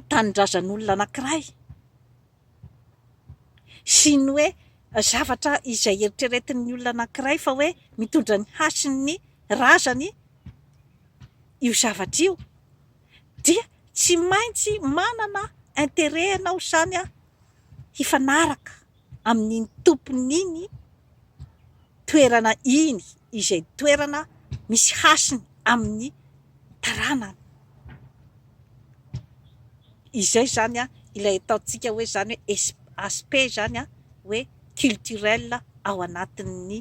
tanindrazan'olona anankiray sy ny hoe zavatra izay eritreretin'ny olona anankiray fa hoe mitondra ny hasin'ny razany io zavatra io dia tsy maintsy manana intérêt ianao izany hifanaraka. amin'iny tompon'iny toerana iny izay toerana misy hasiny amin'ny taranany. Izay izany ilay ataontsika hoe izany hoe es- aspect izany hoe culturel ao anatin'ny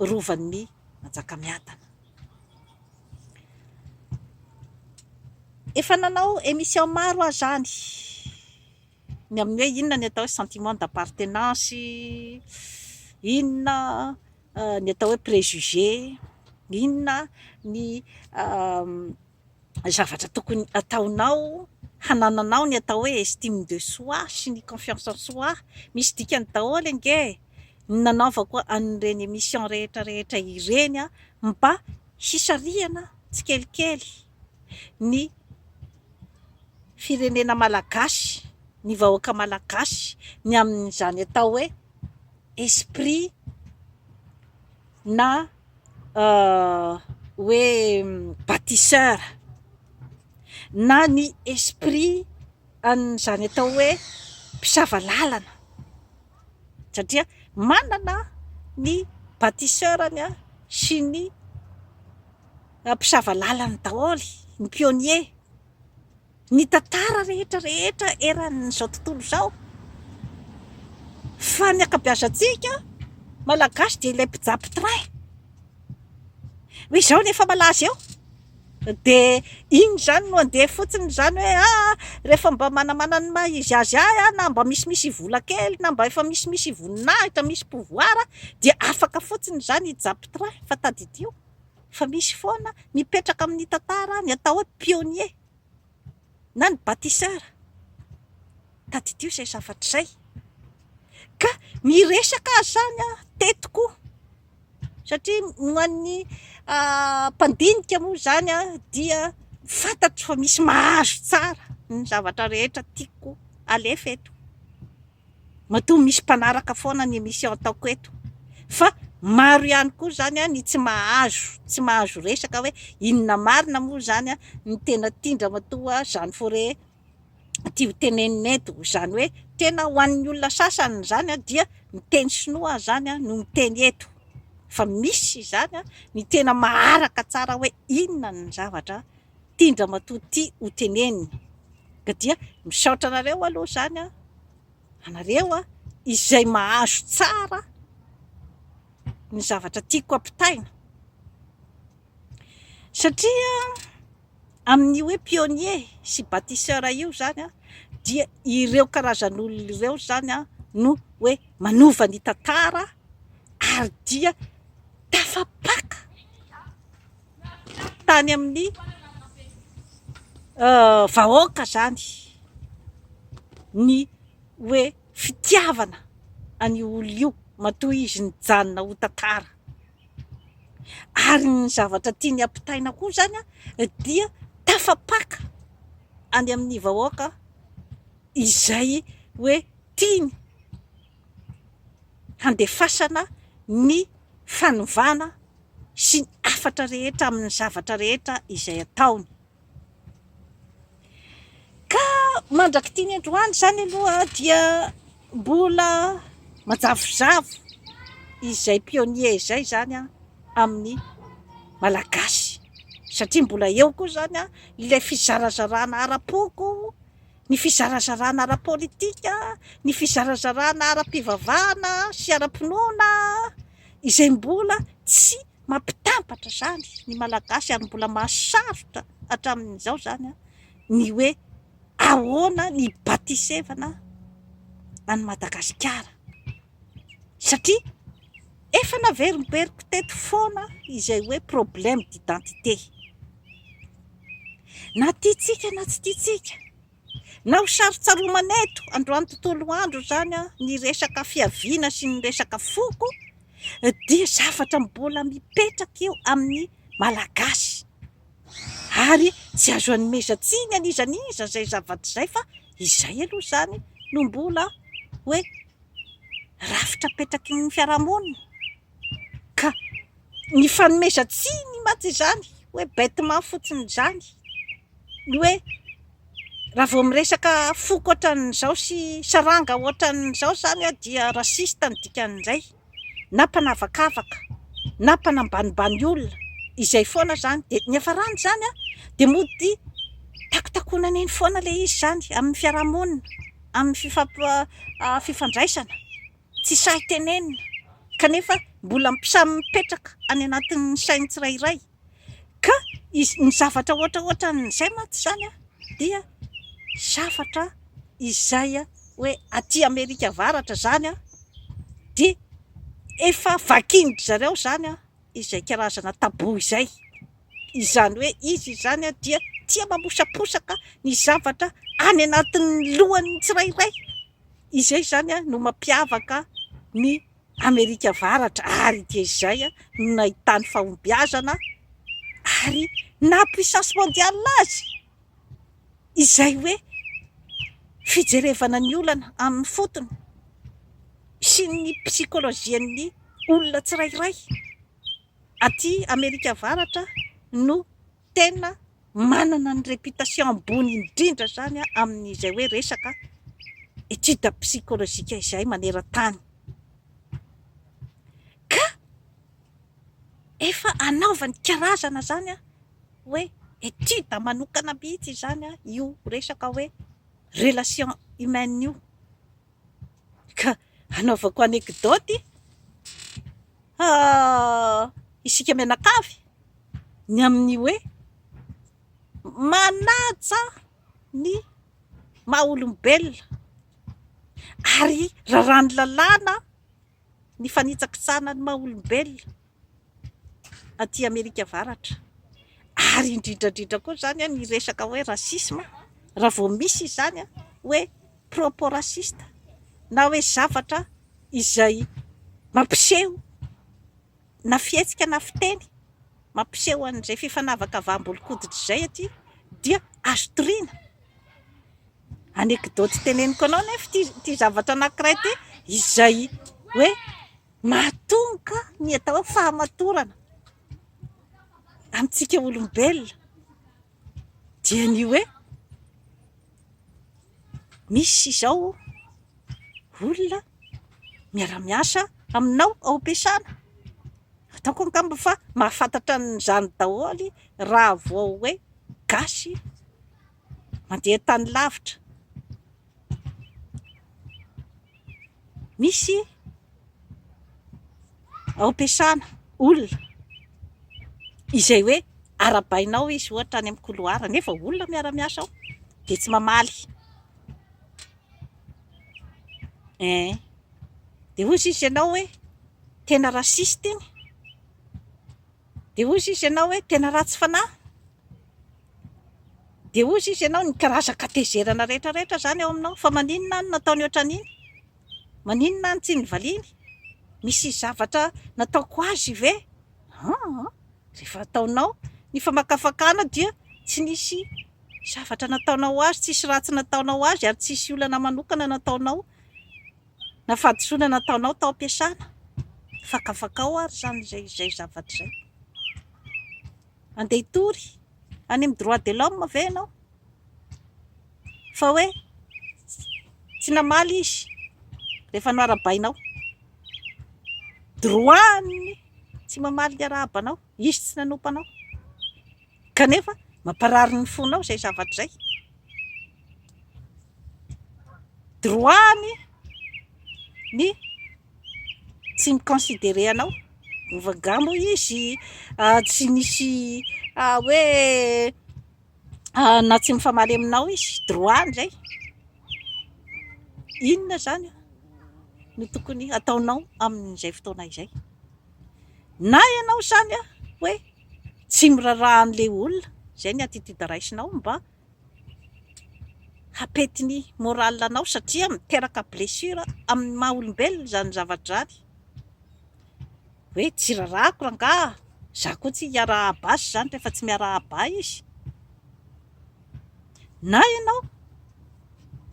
Rovan'i Manjakamiadana. Efa nanao émission maro aho izany. Ny amin'ny hoe inona ny atao hoe sentiment d'appartenance, inona ny atao hoe préjugé, inona ny zavatra tokony ataonao hanananao ny atao hoe estime de soi sy ny confiance en soi, misy dikany daholo ange ny nanaovako an'ireny émission rehetra rehetra ireny mba hisarihana tsikelikely. ny firenena malagasy, ny vahoaka malagasy ny amin'izany atao hoe esprit na hoe batisseur na ny esprit an'izany atao hoe mpisava lalana satria manana ny batisseur-ny sy ny Mpisava lalana daholo ny pionniers, ny tantara rehetra rehetra eran'izao tontolo izao, fa ny ankabeazantsika malagasy dia ilay mpijapy train, hoy izao ny efa malaza eo dia iny izany no andeha fotsiny izany hoe aa rehefa mba manamana ny maha izy azy ahy aho na mba misimisy vola kely na mba efa misimisy voninahitra misy pouvoir dia afaka fotsiny izany hijapy train fa tadidio. fa misy foana mipetraka amin'ny tantara ny atao hoe pionnier na ny batisseur, tadidio izay zavatra izay ka miresaka azy izany aho teto koa satria ho an'ny mpandinika moa izany dia fantatro fa misy mahazo tsara ny zavatra rehetra tiako alefa eto. Matoa misy mpanaraka foana ny émission ataoko eto fa maro ihany koa izany ny tsy mahazo tsy mahazo resaka hoe inona marina moa izany ny tena tian-dramatoa Jeanne Fauré ity ho tenenina eto. Izany hoe tena ho an'ny olona sasany izany dia ny teny sinoa izany no miteny eto fa misy izany ny tena maharaka tsara hoe inona ny zavatra tian-dramatoa tia ho teneniny. Ka dia misaotra anareo aloha izany an! Anareo izay mahazo tsara ny zavatra tiako ampitaina. Satria amin'io hoe pionnier sy bâtisseur io izany an, dia ireo karazan'olona ireo izany an no hoe manova ny tantara ary dia tafapaka. tany amin'ny vahoaka izany ny hoe fitiavana an'io olona io matoa izy nijanona ho tantara. Ary ny zavatra tiany ampitaina koa izany dia tafapaka any amin'ny vahoaka izay hoe tiany. handefasana ny fanovana sy ny hafatra rehetra amin'ny zavatra rehetra izay ataony. Ka mandrak'ity ny androany izany aloha dia mbola manjavozavo izay pionnier izay izany amin'ny Malagasy satria mbola eo koa izany ilay fizarazarana ara-poko, ny fizarazarana ara-politika, ny fizarazarana ara-pivavahana sy ara-pinoana izay mbola tsy mampitambatra izany ny Malagasy ary mbola mahasarotra hatramin'izao izany ny hoe ahoana ny hibatisevana an'i Madagasikara. satria efa naverimberiko teto foana izay hoe problème d'identité, na tiantsika na tsy tiantsika, na ho sarotsaromana eto androany tontolo andro izany ny resaka fiaviana sy ny resaka foko dia zavatra mbola mipetraka eo amin'ny Malagasy ary tsy azo anomezan-tsiny an'iza n'iza izay zavatra izay fa izay aloha izany no mbola hoe rafitra apetraky ny fiarahamonina ka ny fanomezan-tsiny mantsy izany hoe bêtement fotsiny izany ny hoe raha vao miresaka foko ohatran'izao sy saranga ohatran'izao izany dia raciste ny dikan'izay. na mpanavakavaka na mpanambanimbany olona izay foana izany dia ny hafarany izany an dia mody takotakonana eny foana ilay izy izany amin'ny fiarahamonina amin'ny fifampi- fifandraisana tsy sahy tenenina kanefa mbola samy mipetraka any anatin'ny sain'ny tsirairay ka ny zavatra ohatra ohatran'izay mantsy izany dia zavatra izay hoe aty Amerika Avaratra izany dia efa vakian-dry zareo izany izay karazana tabou izay, izany hoe izy izany dia tia mamosaposaka ny zavatra any anatin'ny lohan'ny tsirairay, izay izany no mampiavaka ny Amerika Avaratra ary ity izay no nahitany fahombiazana ary naha puissance mondiale azy izay hoe fijerevana ny olana amin'ny fotony sy ny psychologian'ny olona tsirairay aty Amerika Avaratra no tena manana ny réputation ambony indrindra izany amin'izay hoe resaka étude psychologique izay maneran-tany ka efa anaovany karazana izany hoe étude manokana mihitsy izany io resaka hoe relation humaine io. Ka hanaovako anekdaoty isika mianakavy ny amin'ny hoe manaja ny maha olombelona ary raràn'ny lalàna ny fanitsakitsahana ny maha olombelona. aty Amerika Avaratra, ary indrindra indrindra koa izany ny resaka hoe racisme, raha vao misy izany hoe propos raciste na hoe zavatra izay mampiseho na fihetsika na fiteny mampiseho an'izay fifanavakavaham-bolon-koditra izay aty dia azo toriana. Anecdote teneniko anao anefa ity zavatra anankiray ity izay hoe. Mahatonga ny atao hoe fahamatorana amintsika olombelona dia ny hoe misy izao olona miara-miasa aminao ao am-piasana, ataoko angamba fa mahafantatra an'izany daholo raha vao hoe gasy mandeha tany lavitra. Misy ao am-piasana olona izay hoe arahabainao izy ohatra any amin'ny couloir nefa olona miara-miasa ao dia tsy mamaly. Ee, dia hoy sisa ianao hoe tena raciste iny. Dia hozy izy ianao hoe, Tena ratsy fanahy? Dia hozy izy ianao, Ny karazan-katezerana rehetra rehetra izany ao aminao, fa maninona aho no nataony hoatran'iny? Maninona aho no tsy nivaliany? Misy zavatra nataoko azy ve? Aa! Rehefa ataonao ny famakafakana dia tsy nisy zavatra nataonao azy, tsisy ratsy nataonao azy ary tsisy olana manokana nataonao Na fahadisoana nataonao tao am-piasana, fakafakao ary izany izay izay zavatra izay. Andeha hitory any amin'ny droit de l'homme ve ianao? Fa hoe tsy namaly izy rehefa noharabainao. Droit-ny tsy mamaly ny arahabanao, izy tsy nanompa anao. Kanefa mamparary ny fonao izay zavatra izay. Droit-ny ny tsy mi-considerer anao. Vagant moa izy, tsy misy hoe na tsy mifamaly aminao izy, droit-ny izay. Inona izany no tokony hataonao amin'izay fotoana izay? na ianao izany a hoe tsy miraraha an'ilay olona izay ny attitude raisinao mba hampety ny morale anao satria miteraka blessure amin'ny maha olombelona izany zavatra izany hoe tsy rarahako rangaha, za koa tsy hiaraha-basy izany rehefa tsy miaraha-ba izy Na ianao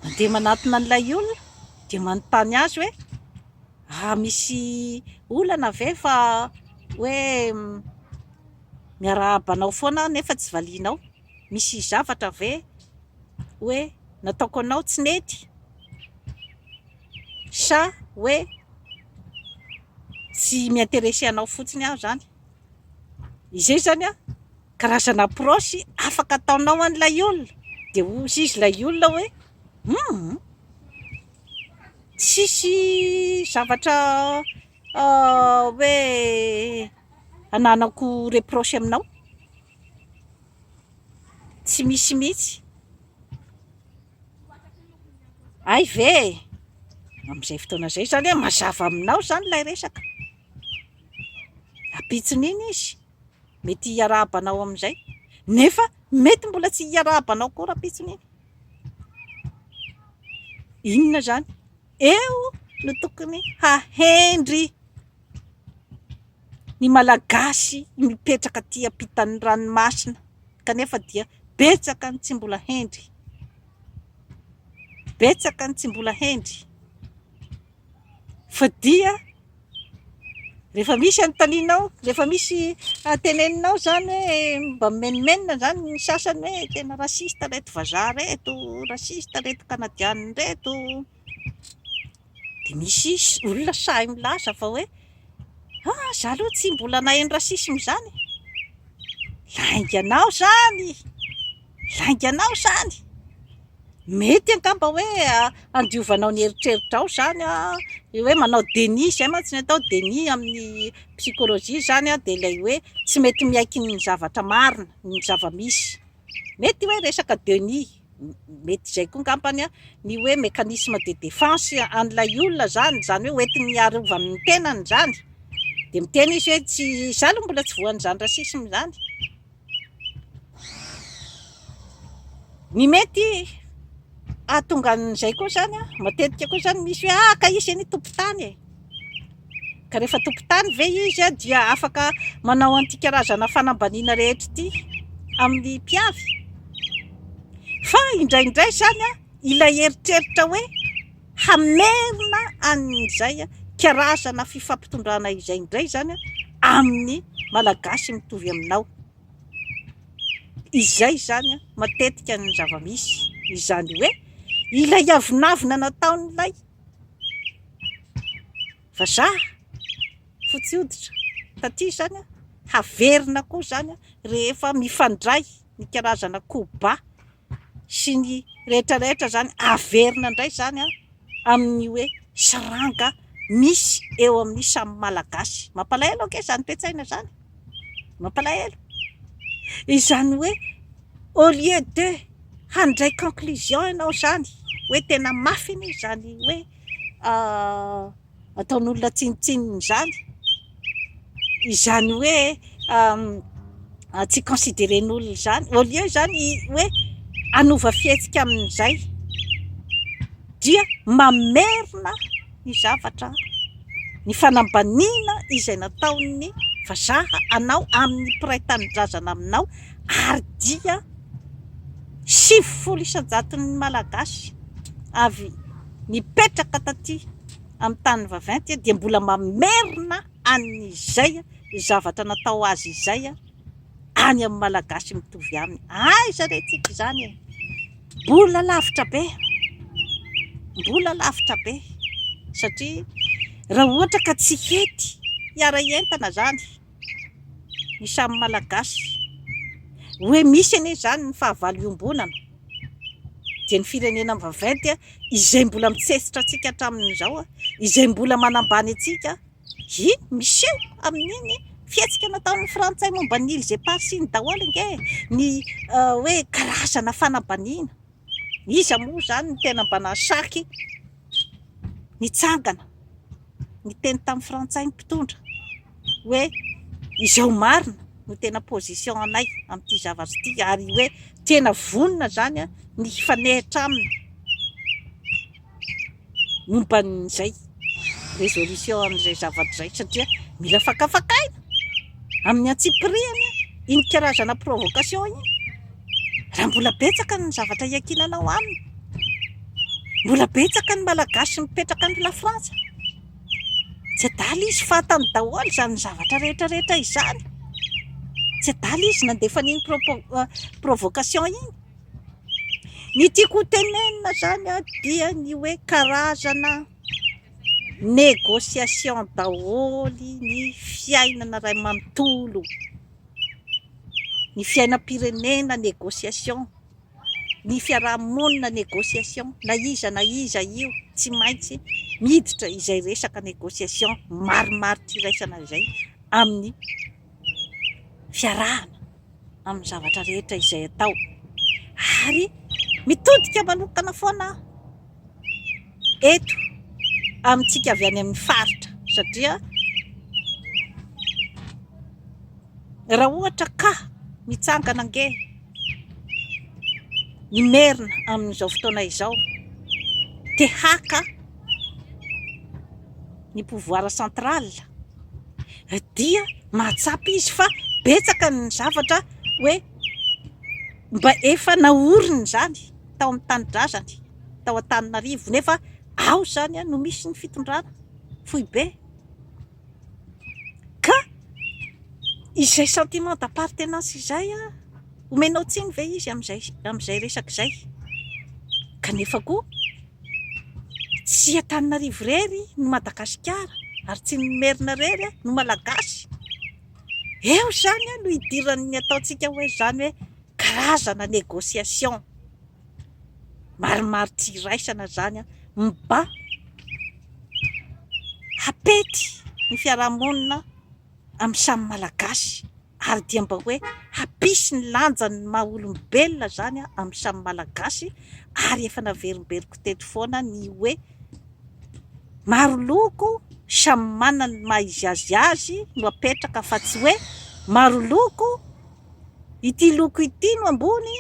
mandeha manatona an'ilay olona dia manontany azy hoe ah, misy olana ve fa hoe miarahaba anao foana aho nefa tsy valianao? Misy zavatra ve hoe nataoko anao tsy nety? Sa hoe tsy mi-interesser anao fotsiny aho izany? Izay izany an! Karazana approche afaka ataonao an'ilay olona dia hozy izy ilay olona hoe humm tsisy zavatra hoe hananako reproche aminao, tsy misy mihitsy, hay ve e! amin'izay fotoana izay izany hoe mazava aminao izany ilay resaka, ampitson'iny izy. mety hiarahaba anao amin'izay nefa mety mbola tsy hiarahaba anao koa rahampitso neny inona zany eo no tokony hahendry ny malagasy mipetraka aty ampitan'ny ranomasina kanefa dia betsaka ny tsy mbola hendry betsaka ny tsy mbola hendry fa dia rehefa misy anontanianao, rehefa misy teneninao izany hoe mba mimenomenona izany ny sasany hoe tena raciste ireto vazaha ireto, raciste ireto kanadiana ireto, dia misy olona sahy milaza fa hoe ah izaho aloha tsy mbola naheno racisme izany e! lainga anao izany. Lainganao izany! Mety angamba hoe handiovanao ny eritreritrao izany ilay hoe manao déni, izay mantsy no atao hoe déni amin'ny psychologie izany dia ilay hoe tsy mety miaiky ny zavatra marina, ny zava-misy. Mety hoe resaka déni, mety izay koa angamba ny hoe mécanisme de défense an'ilay olona izany, izany hoe hoentin'ny hiarovany ny tenany izany, dia miteny izy hoe tsy, izaho aloha mbola tsy voan'izany racisme izany. Ny mety hahatonga an'izay koa izany an, matetika koa izany misy hoe ah ka izy anie tompon-tany e! Ka rehefa tompon-tany ve izy dia afaka manao an'ity karazana fanambaniana rehetra ity amin'ny mpiavy? Fa indraindray izany an, ilay eritreritra hoe. hamerina an'izay karazana fifampitondrana izay indray izany amin'ny Malagasy mitovy aminao. Izay izany matetika ny zava-misy, izany hoe ilay avonavona nataon'ilay vazaha fotsy hoditra taty izany haverina koa izany rehefa mifandray. ny karazana koba sy ny rehetra rehetra izany averina indray izany amin'ny hoe saranga misy eo amin'ny samy Malagasy. Mampalahelo ange izany toe-tsaina izany e! Mampalahelo. Izany hoe au lieu de handray conclusion ianao izany hoe tena mafy anie izany hoe ataon'olona tsinontsinona izany, izany hoe tsy consideren'olona izany, au lieu izany hoe hanova fihetsika amin'izay dia mamerina ny zavatra, ny fanambaniana izay nataon'ny vazaha anao amin'ny mpiray tanindrazana aminao ary dia sivifolo isan-jaton'ny Malagasy avy Nipetraka taty amin'ny tany vaventy dia mbola mamerina an'izay zavatra natao azy izay any amin'ny Malagasy mitovy aminy. Aiza re tsika izany e! Mbola lavitra be, mbola lavitra be satria raha ohatra ka tsy hety hiara-hientana izany, ny samy Malagasy. Hoe misy anie izany ny fahavalo iombonana dia ny firenena vaventy izay mbola mitsetsitra antsika hatramin'izao, izay mbola manambany antsika, iny miseho amin'iny fihetsika nataon'ny frantsay momba ny îles éparses iny daholo ange ny hoe karazana fanambaniana. Iza moa izany no tena mba nahasaky nitsangana niteny tamin'ny frantsay ny mpitondra hoe izao marina no tena position anay amin'ity zavatra ity ary hoe tena vonona izany ny hifanehitra aminy. momba an'izay résolution amin'izay zavatra izay satria mila fakafakaina amin'ny antsipirihany iny karazana provocation iny raha mbola betsaka ny zavatra iakinanao aminy mbola betsaka ny malagasy mipetraka any lafrantsa tsy adala izy fantany daholo izany zavatra rehetra rehetra izany tsy adala izy nandefa an'iny provocation iny Ny tiako ho tenenina zany a dia ny hoe karazana négociation daholo ny fiainana ray manontolo, ny fiainam-pirenena négociation, ny fiaraha-monina négociation, na iza na iza io tsy maintsy miditra izay resaka négociation maromaro tsy iraisana izay amin'ny fiarahana amin'ny zavatra rehetra izay atao ary mitodika manokana foana aho eto amintsika avy any amin'ny faritra satria raha ohatra ka mitsangana ange ny merina amin'izao fotoana izao te haka ny pouvoir central dia mahatsapa izy fa betsaka ny zavatra hoe mba efa naoriny izany tao amin'ny tanindrazany tao Antananarivo nefa ao izany no misy ny fitondrana foibe ka izay sentiment d'appartenance izay Omenao tsiny ve izy amin'izay resaka izay? Kanefa koa tsy Antananarivo irery no Madagasikara ary tsy ny Merina irery no Malagasy. Eo izany no hidiran'ny ataontsika hoe izany hoe karazana négociation maromaro tsy iraisana izany mba hapety ny fiarahamonina amin'ny samy Malagasy. ary dia mba hoe hampisy ny lanjany ny maha olombelona izany amin'ny samy Malagasy ary efa naverimberiko teto foana ny hoe maro loko samy manana ny maha izy azy azy no apetraka fa tsy hoe maro loko ity loko ity no ambony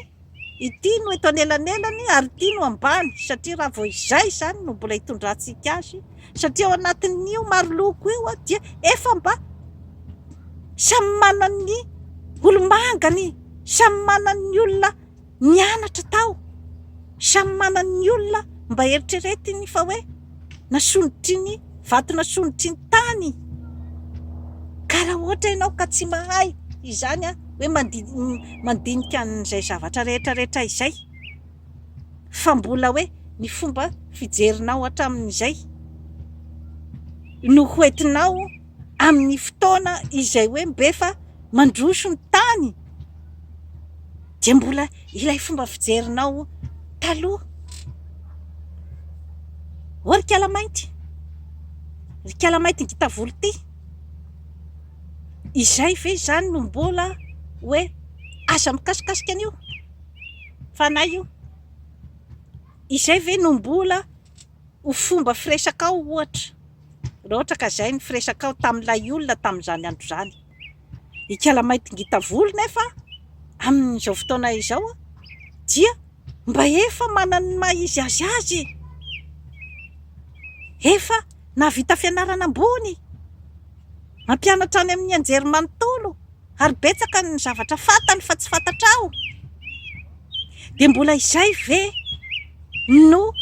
Ity no eto anelanelany ary ity no ambany satria raha vao izay izany no mbola hitondrantsika azy satria ao anatin'io maro loko io dia efa mba samy manan'ny olomangany, samy manan'ny olona nianatra tao, samy manan'ny olona mba eritreretiny fa hoe. na solotry ny vato na solotry ny tany ka raha ohatra ianao ka tsy mahay izany hoe mandinika an'izay zavatra rehetra rehetra izay fa mbola hoe ny fomba fijerinao hatramin'izay no hoentinao amin'ny fotoana izay hoe mbefa mandroso ny tany dia mbola ilay fomba fijerinao taloha oh ry kala mainty ry kala mainty ngita volo ty izay ve izany no mbola hoe aza mikasikasika an'io fanahy io izay ve no mbola ho fomba firesakao ohatra raha ohatra ka izay ny firesakao tamin'ilay olona tamin'izany andro izany Ikala mainty ngita volo nefa amin'izao fotoana izao dia mba efa manana ny maha izy azy azy, efa nahavita fianarana ambony, mampianatra any amin'ny anjerimanontolo ary betsaka ny zavatra fantany fa tsy fantatrao, dia mbola izay ve no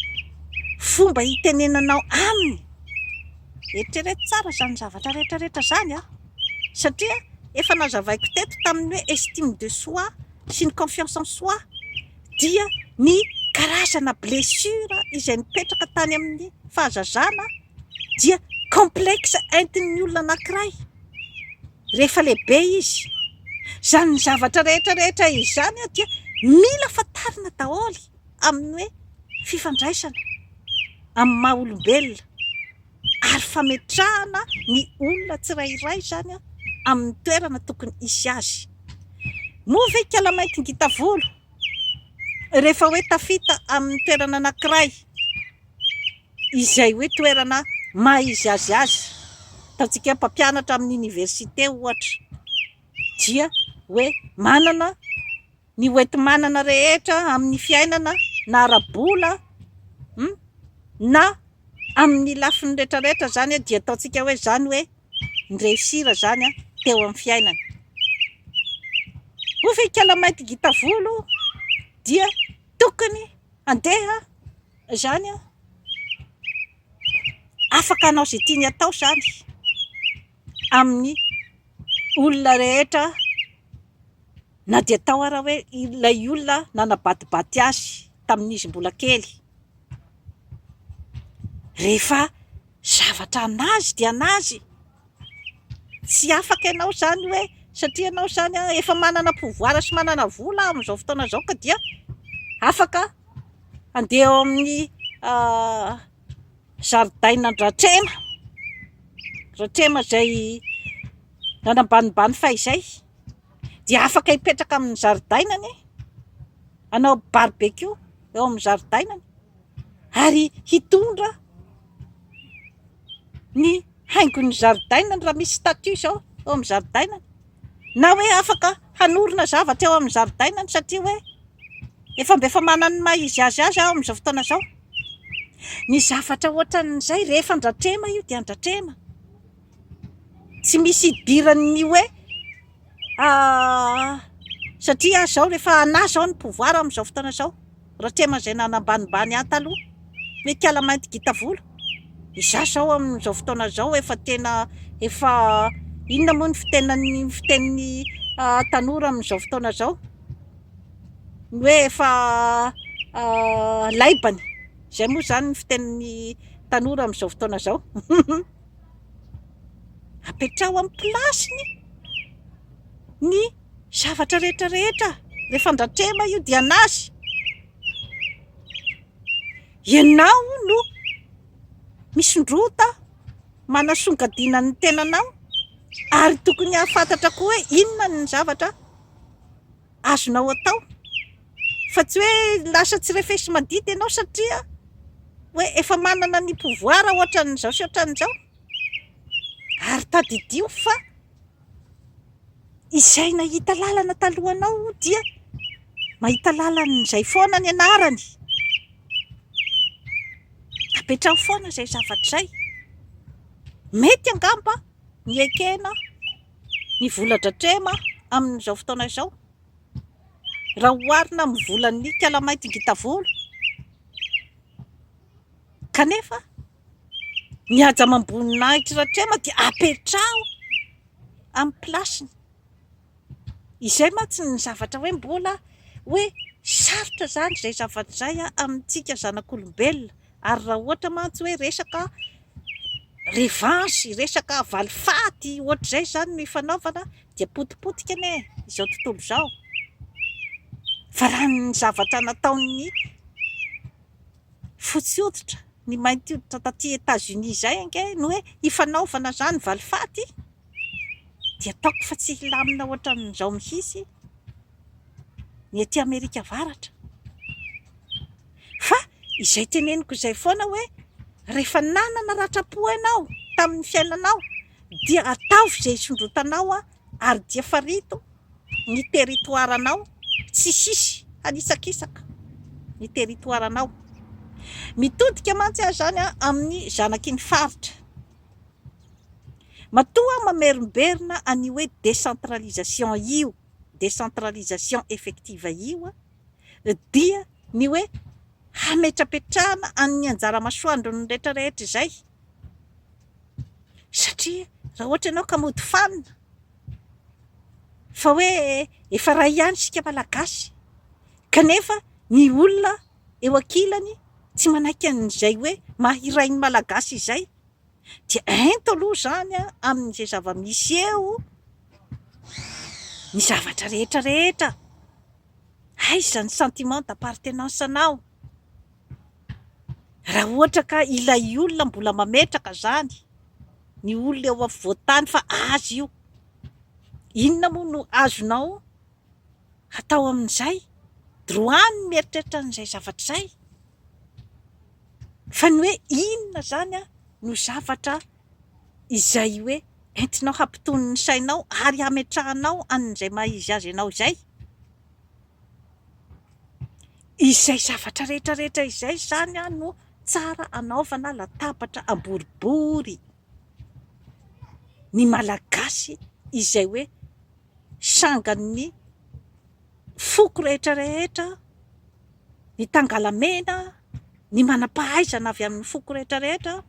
fomba hitenenanao aminy? Eritrereto tsara izany zavatra rehetra rehetra izany an! Satria efa nazavaiko teto tamin'ny hoe estime de soi sy ny confiance en soi dia ny karazana blessure izay nipetraka tany amin'ny fahazazana dia complexe entin'ny olona anankiray rehefa lehibe izy. Izany zavatra rehetra rehetra izany dia mila fantarina daholo. amin'ny hoe fifandraisana amin'ny maha olombelona ary fametrahana ny olona tsirairay izany amin'ny toerana tokony hisy azy. Moa ve ikala mainty ngita volo rehefa hoe tafita amin'ny toerana anankiray izay hoe toerana maha izy azy azy, ataontsika hoe mpampianatra amin'ny oniversite ohatra dia hoe manana ny hoenti-manana rehetra amin'ny fiainana na ara-bola na amin'ny lafiny retraretra izany dia ataontsika hoe izany hoe ni-reussir izany teo amin'ny fiainana. Hoy ve ikala mainty gita volo dia tokony handeha izany afaka hanao izay tiany atao izany amin'ny olona rehetra. Na dia tao ara hoe ilay olona nanabatibaty azy tamin'izy mbola kely, rehefa zavatra an'azy dia an'azy, tsy afaka ianao izany hoe satria ianao izany efa manana pouvoir sy manana vola amin'izao fotoana izao ka dia afaka handeha ao amin'ny zaridainan'dRatrema, Ratrema izay nanambanimbany fahizay. dia afaka hipetraka amin'ny zaridainany e, hanao barbecue eo amin'ny zaridainany ary hitondra ny haingon'ny zaridainany raha misy statut izao eo amin'ny zaridainany na hoe afaka hanorina zavatra eo amin'ny zaridainany satria hoe efa mba efa manana ny maha izy azy azy aho amin'izao fotoana izao. Ny zavatra ohatran'izay rehefa andratrema io dia andratrema. Tsy misy idiran'ny hoe satria zao rehefa anà zao ny pouvoir amin'izao fotoana izao, Ratrema izay nanambanimbany ahy taloha hoe ikala mainty gita volo, izaho izao amin'izao fotoana izao efa tena efa inona moa ny fitenan'ny fitenin'ny tanora amin'izao fotoana izao? ny hoe efa laibany, izay moa izany ny fitenin'ny tanora amin'izao fotoana izao. Apetraho amin'ny place-ny ny zavatra rehetra rehetra rehefa andratrema io dia an'azy. Ianao no misondrota manasongadina ny tenanao ary tokony hahafantatra koa hoe inona ny zavatra azonao atao fa tsy hoe lasa tsy refesi madity ianao satria hoe efa manana ny pouvoir ohatran'izao sy ohatran'izao ary tadidio fa izay nahita lalana talohanao dia mahita lalan'izay foana ny anarany apetraho foana izay zavatra izay mety angamba ny ekena ny vola dratrema amin'izao fotoana izao raha oharina amin'ny volan'ny kalamainty ngita volo kanefa ny haja amam-boninahitry ratrema dia apetraho amin'ny plasiny. Izay mantsy ny zavatra hoe mbola hoe sarotra izany izay zavatra izay amintsika zanak'olombelona ary raha ohatra mantsy hoe resaka revanche, resaka valifaty ohatr'izay izany no ifanaovana dia potipotika anie izao tontolo izao fa raha ny zavatra nataon'ny fotsy hoditra, ny mainty hoditra taty Etats-Unis izay ange no hoe ifanaovana izany valifaty. dia ataoko fa tsy hilamina ohatran'izao mihitsy ny ety Amerika Avaratra. Fa izay teneniko izay foana hoe rehefa nanana ratram-po ianao tamin'ny fiainanao dia ataovy izay hisondrotanao ary dia farito ny territoire-nao, tsy hisy hanitsakitsaka ny territoire-nao. Mitodika mantsy aho izany amin'ny zanaky ny faritra. Matoa mamerimberina an'io hoe décentralisation io, décentralisation effective io, dia ny hoe hametrapetrahana an'ny anjara masoandron'ny rehetra rehetra izay, satria raha ohatra ianao ka mody fanina fa hoe efa iray ihany isika Malagasy kanefa ny olona eo ankilany tsy manaiky an'izay hoe maha iray ny Malagasy izay dia ento aloha izany amin'izay zava-misy eo ny zavatra rehetra rehetra, aiza ny sentiment d'appartenance anao? Raha ohatra ka ilay olona mbola mametraka izany, ny olona eo afovoan-tany fa azy io, inona moa no azonao? hatao amin'izay, droit ny mieritreritra an'izay zavatra izay, fa ny hoe inona izany no zavatra izay hoe entinao hampitony ny sainao ary hametrahanao an'izay maha izy azy anao izay, izay zavatra rehetra rehetra izay izany no tsara anaovana latabatra amboribory ny Malagasy izay hoe Sangan'ny foko rehetra rehetra, ny tangalamena, ny manam-pahaizana avy amin'ny foko rehetra rehetra.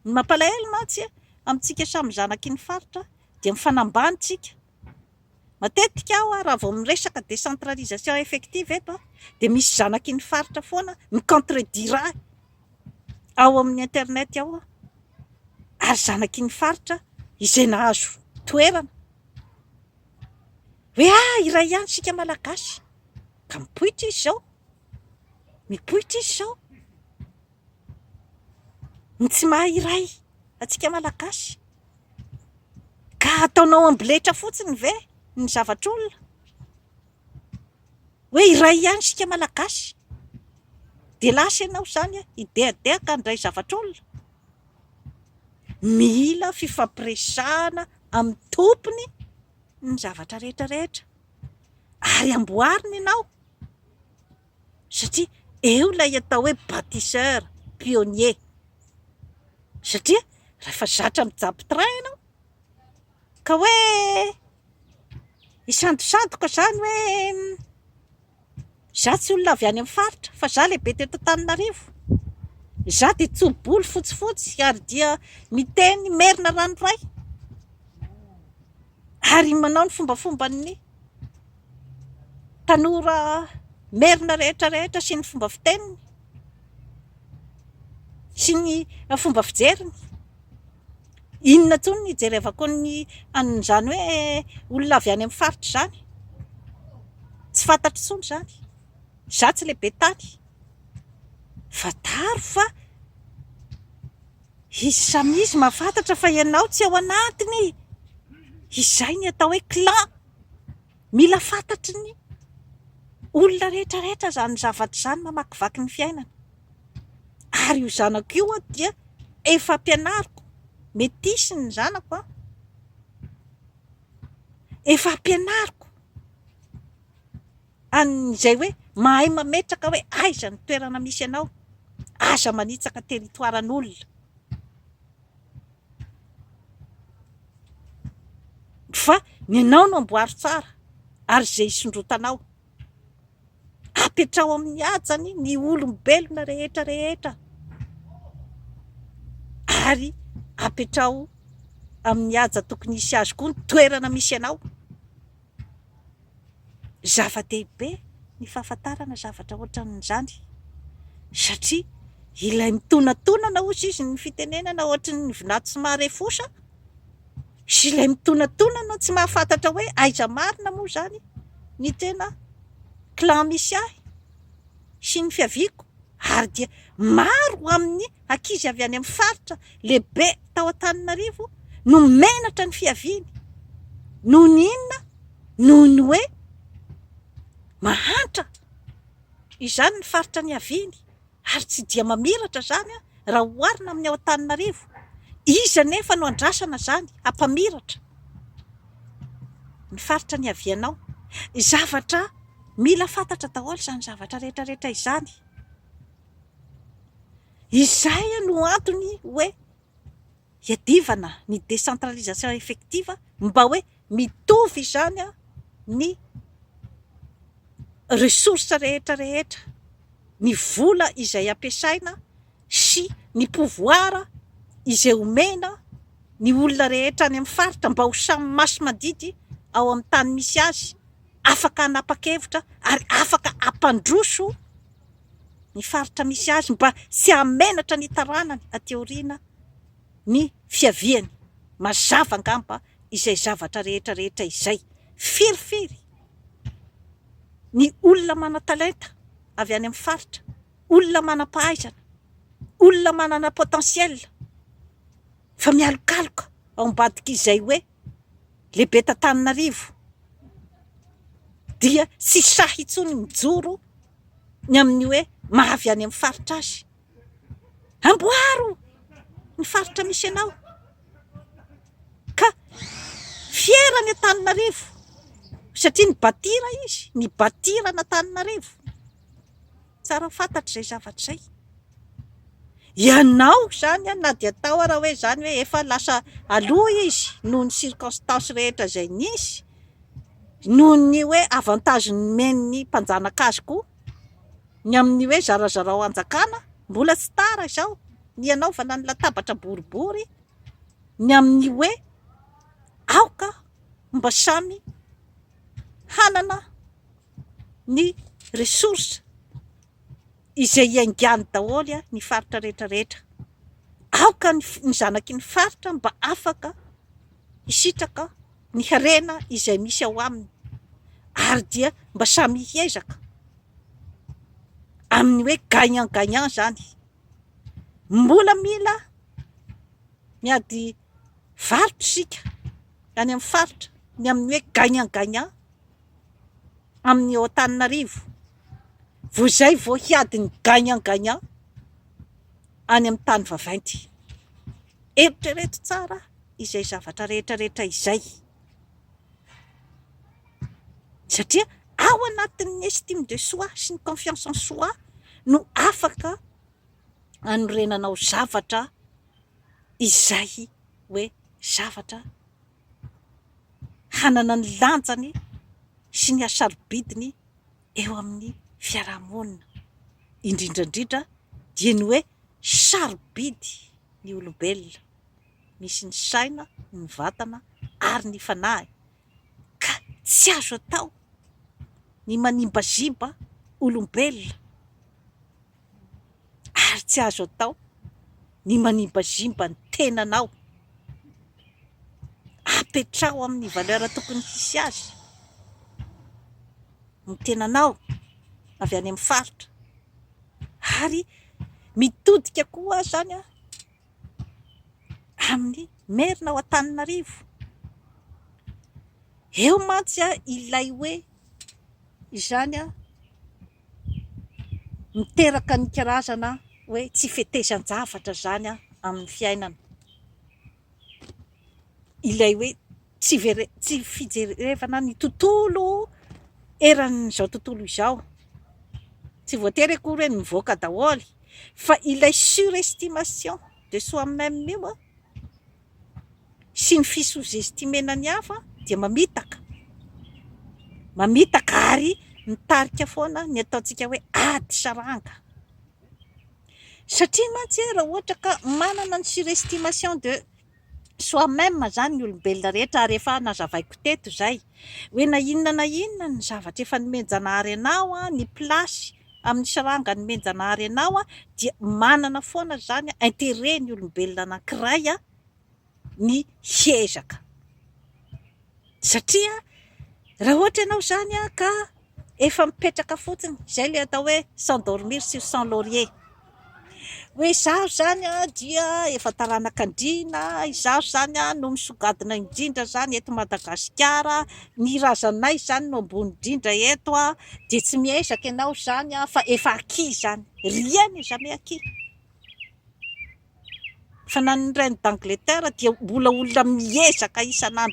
Ny mampalahelo mantsy amintsika samy zanaky ny faritra dia mifanambany tsika. Matetika aho raha vao miresaka décentralisation effective eto dia misy zanaky ny faritra foana mi contredire ahy ao amin'ny internet ao ary zanaky ny faritra izay nahazo toerana. Hoe ah! iray ihany isika Malagasy ka mipoitra izy izao, mipoitra izy izao ny tsy maha iray antsika Malagasy ka ataonao amboletra fotsiny ve ny zavatr'olona? Hoe iray ihany isika Malagasy dia lasa ianao izany hidehadehaka handray zavatr'olona? Mila fifampiresahana amin'ny tompony ny zavatra rehetra rehetra ary amboarina ianao satria eo ilay atao hoe batisseur, pionnier satria rehefa zatra mijapy train ianao ka hoe hisandosandoka izany hoe. Izaho tsy olona avy any amin'ny faritra fa izaho lehibe teto Antananarivo. Izaho dia tso-bolo fotsifotsy ary dia miteny merina ranoray ary manao ny fombafomban'ny tanora merina rehetra rehetra sy ny fomba fiteniny sy ny fomba fijeriny. Inona tony ny ijerevako ny an'izany hoe olona avy any amin'ny faritra izany? Tsy fantatro intsony izany. Izaho tsy lehibe tany. Fantaro fa izy samy izy mahafantatra fa ianao tsy ao anatiny. Izay ny atao hoe clan. Mila fantatry ny olona rehetra rehetra izany zavatra izany mamakivaky ny fiainana. Ary io zanako io an dia efa ampianariko, metisy ny zanako an, efa ampianariko an'izay hoe mahay mametraka hoe aiza ny toerana misy anao, aza manitsaka territoire an'olona. Fa ny anao no amboaro tsara ary izay hisondrotanao. Apetraho amin'ny hajany ny olombelona rehetra rehetra ary apetraho amin'ny haja tokony hisy azy koa ny toerana misy anao. Zava-dehibe ny fahafantarana zavatra ohatran'izany satria ilay mitonantonana hozy izy ny fitenenana ohatry ny vinany tsy maharefosa sy ilay mitonantonana tsy mahafantatra hoe aiza marina moa izany ny tena clan misy ahy sy ny fiaviako ary dia maro amin'ny ankizy avy any amin'ny faritra lehibe tao Antananarivo no menatra ny fiaviany noho ny inona? noho ny hoe mahantra izany ny faritra niaviany ary tsy dia mamiratra izany raha oharina amin'ny ao Antananarivo. Iza anefa no andrasana izany hampamiratra ny faritra niavianao? Zavatra mila fantatra daholo izany zavatra rehetra rehetra izany. Izay no antony hoe iadivana ny décentralisation effective mba hoe mitovy izany ny ressources rehetra rehetra, ny vola izay ampiasaina sy ny pouvoir izay omena ny olona rehetra any amin'ny faritra mba ho samy masi-mandidy ao amin'ny tany misy azy, afaka hanapa-kevitra ary afaka hampandroso. ny faritra misy azy mba tsy hahamenatra ny taranany aty aoriana ny fiaviany. Mazava angamba izay zavatra rehetra rehetra izay. Firifiry ny olona manan-talenta avy any amin'ny faritra, olona manam-pahaizana, olona manana potentiel fa mialokaloka ao ambadik'izay hoe lehibe t'Antananarivo dia tsy sahy intsony mijoro ny amin'ny hoe maha avy any amin'ny faritra azy. Amboaro ny faritra misy anao ka fiera any Antananarivo satria nibatira izy, nibatira an'Antananarivo. Tsara fantatra izay zavatra izay. Ianao izany na dia tao ara hoe izany hoe efa lasa aloha izy noho ny circonstances rehetra izay nisy, noho ny hoe avantage nomen'ny mpanjanaka azy koa ny amin'ny hoe zarazarao hanjakana, mbola tsy tara izao ny hanaovana ny latabatra boribory ny amin'ny hoe aoka mba samy hanana ny ressources izay iaingàny daholo ny faritra rehetra rehetra. Aoka ny zanaky ny faritra mba afaka hisitraka ny harena izay misy ao aminy ary dia mba samy hiezaka amin'ny hoe gagnant gagnant izany. Mbola mila miady varotra isika any amin'ny faritra ny amin'ny hoe gagnant gagnant amin'ny Antananarivo vao izay vao hiady ny gagnant gagnant any amin'ny tany vavainty. Eritrereto tsara izay zavatra rehetra rehetra izay satria ao anatin'ny estime de soi sy ny confiance en soi no afaka hanorenanao zavatra izay hoe zavatra. hanana ny lanjany sy ny hasarobidiny eo amin'ny fiarahamonina, indrindra indrindra dia ny hoe sarobidy ny olombelona, misy ny saina, ny vatana ary ny fanahy ka tsy azo atao ny manimbaziba olombelona. ary tsy azo atao ny manimbazimba ny tenanao. Apetraho amin'ny valeur tokony hisy azy ny tenanao avy any amin'ny faritra ary mitodika koa izany amin'ny Merina ao Antananarivo. Eo mantsy ilay hoe izany. miteraka ny karazana hoe tsy fetezan-javatra izany amin'ny fiainana. Ilay hoe tsy vere- tsy fijerevana ny tontolo eran'izao tontolo izao. Tsy voatery akory hoe mivoaka daholo fa ilay surestimation de soi-meme io sy ny fi sous-estimena ny hafa dia mamitaka, mamitaka ary mitarika foana ny ataontsika hoe ady saranga. Satria mantsy raha ohatra ka manana ny surestimation de soi-meme izany ny olombelona rehetra ary efa nazavaiko teto izay. Hoe na inona na inona ny zavatra efa nomen-Janahary anao, ny place amin'ny sranga nomen-Janahary anao dia manana foana izany interet ny olombelona anankiray ny hiezaka satria raha ohatra ianao izany ka efa mipetraka fotsiny, izay ilay atao hoe sans dormir sur son laurier, hoe izaho izany dia efa taranaka andriana, izaho izany no misongadina indrindra izany eto Madagasikara, ny razanay izany no ambony indrindra eto dia tsy miezaka ianao izany fa efa acquis izany, rien n'est jamais acquis, fa na ny reine d'Angleterre dia mbola olona miezaka isan'andro isan'andro.